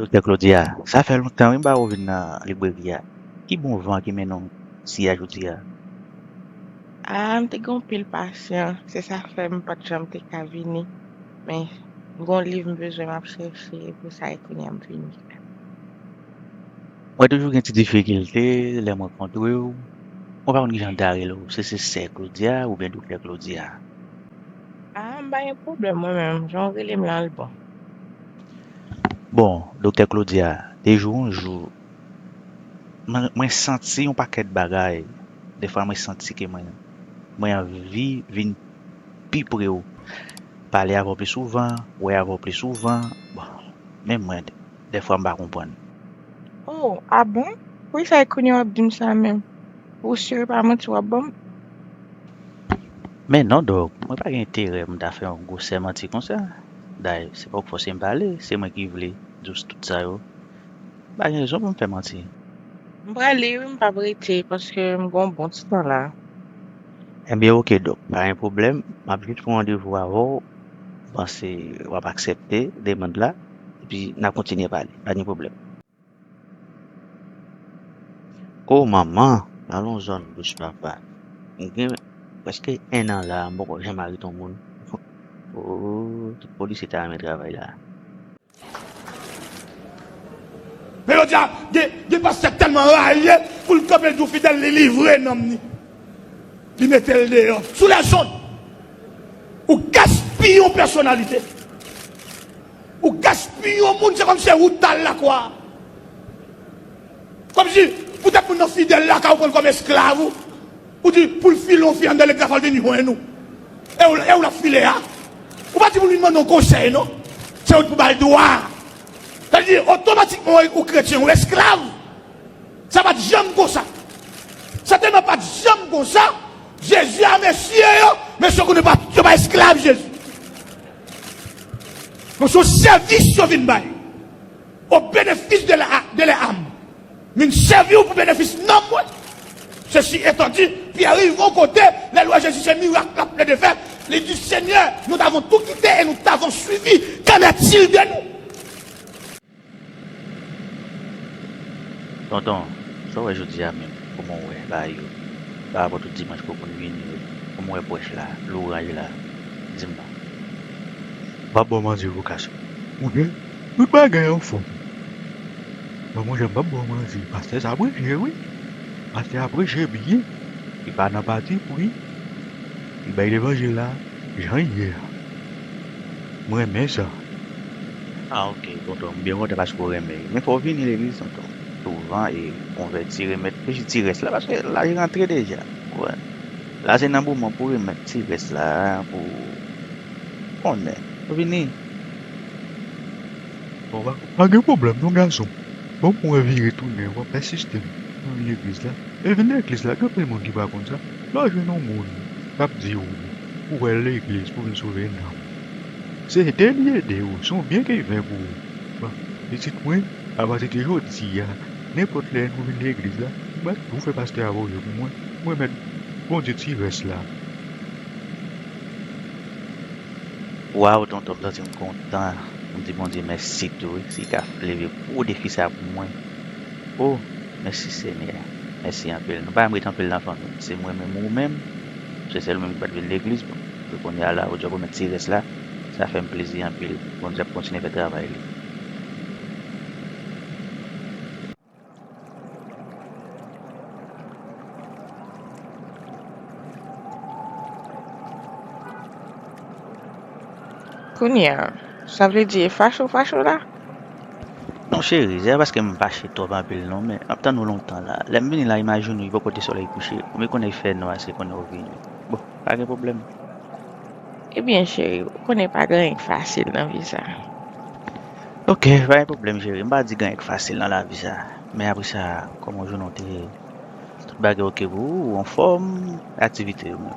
Doktè Claudia, sa fè lontan wi m pa wè w vin nan libreri a. Ki bon van ki mennen w si a jodi a? Ah, m te gen yon pil pasyan, se sa k fè m pa t janm te ka vini. Men, m gen yon liv m bezwen m ap chèche, e pou sa e kounye a m vini. Mwen toujou gen ti difikilte lè m rankontre w, mwen pa konn kijan w ta rele w, si se sè Claudia oubyen doktè Claudia. A, m pa gen pwoblèm mwen menm, jan w rele m lan l bon. Bon, doktè Claudia, te jou yon jou, mwen santi yon pakèt bagay, defwa mwen santi ke mwen, mwen anvi vin pi pre w, pale avè w pi souvan, wè avè w pi souvan, bon, men mwen. dèfwa m pa konprann. Oh ah bon? Poukisa e kounye wap dim sa menm? Ou sur e pa manti wap banm? Men non Dog, mwen pa gen enterè pou m ta fè yon gwosè manti konsa. Day, se pa w k fòse m pale, se mwen ki vle di w tout sa yo. M pa gen rezon pou m fè manti. M prale wi m pap rete paske m gen yon bon ti tan la. Ebyen ok Dog, pa gen pwoblèm, map jis pran randevou avè w, m panse wap aksèpte demand la. Epi na kontinye pale. Pa gen pwoblèm. Oh manman! Alon zòn bouch papa. M gen prèske 1 an la a, m poko janm arete yon moun. Oh, tout polisye ta renmen travay la a. Men jodi a, gen pastè tèlman rayi pou l kanpe l di w fidèl li livre nanm li. Li metel deyò sou les ondes. Ou gaspiye yon pèsonalite. Ou gaspiye yon moun se kòm se ou tal lakwa. Kòm si poutèt moun nan fidèl lakay ou pran l kòm esklav ou. Ou di pou l file yon fi anndan legliz la fò l vini jwenn ou. E ou l ap file a. Ou pa di pou l vin mande yon konsèy non. Se ou ki pou ba l dwa a. Sa vle di otomatikman ou kretyen ou esklav. Sa pat janm konsa. Sa telman pat janm konsa, Jezi a mesye yo, mesye yo konnen pa yo pa esklav Jezi. Men se yon sèvis yo vin bay. Au bénéfice de la de lè âme. M vin sèvi ou pou benefis nanm mwen. Sesi etan di, Pyè rive yon kote, lè l wè Jezi se mirak l ap plede fè, li di, Senyè, nou t avon tou kite e nou t avon suivi, kennè t il de nou? Tonton, sa w wè jodi a menm? Kòman w wè bagay yo parapò tout dimanch pou moun vini yo? Kòman w wè pwèch la, loranj la? Di m non. M pa bo manti pou kas yo. Mon chè, tout bagay anfòm. Bon mon chè, m pap bo w manti, pastè sa preche wi. Pastè a preche byen. Li pa nan pati pri. Li bay levanjil la. Jan l ye a. M renmen sa. Ah ok tonton m byen kontan paske w renmen li. Men fò w vini legliz tonton souvan e konvèti remèt plis ti rès la paske laj rantre deja ou wè. La se nan moman pou w remèt ti rès la pou w konnen. Fò w vini. Bon pa gen pwoblèm non gason m. Bon pou mwen vire tounen w ap asiste m nan legliz la. E vin legliz la gen anpil moun ki pa konn sa. Lè w jwenn yon moun k ap di w pou w al legliz pou w vin sove nanm, se ede li ede w, se yon byen ki ven pou ou. Pitit mwen, apati de jodi a, nenpòt lè nou vin legliz la, m ap di w fè pastè a voye pou mwen, m remèt Bondye ti rès la. Waw tonton m santi m kontan m di Bondye mèsi tou wi si ka leve gwo defi sa pou mwen. Oh mèsi senyè mèsi anpil nou pa janm ret anpil nan fanmi se mwen menm ou menm se sèl ou menm ki pat vin legliz bon pou kounya la ou djab remèt ti rès la sa fèm plezi anpil bondye ap kontinye fè travay li. Kounya sa vle di e fache ou fache la. Mon chéri, se pa paske m fache twòp anpil non, men m ap tann ou lontan la. Lè m vini la, imajine w li poko te solèy kouche, ou me konnen l fè nwa se konnen ou vini. Bon, pa gen pwoblèm. Ebyen cheri, ou konnen pa gen anyen k fasil nan vi sa. Ok, pa gen pwoblèm cheri, m pa di gen anyen k fasil nan lavi sa. Men apre sa, kòman jounen w te ye? Tout bagay ok pou ou? Ou anfòm? Aktivite yo menm?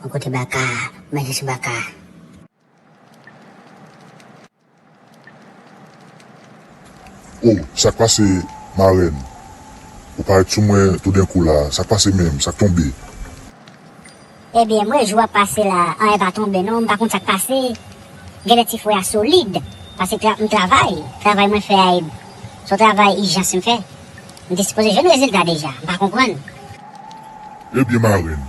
Bon kote baka a manje sou baka a. Oh sak pase marenn ou paret sou mwen toudenkou la sak pase menm sak tonbe. Ebyen m wè jou ap pase la anyen pa tonbe non m pa konn sak pase genlè ti fwe a solid pase m travay travay mwen fè a ed son travay ijans m fè m te sipoze jwenn rezilta deja m pa konprann. Ebyen marenn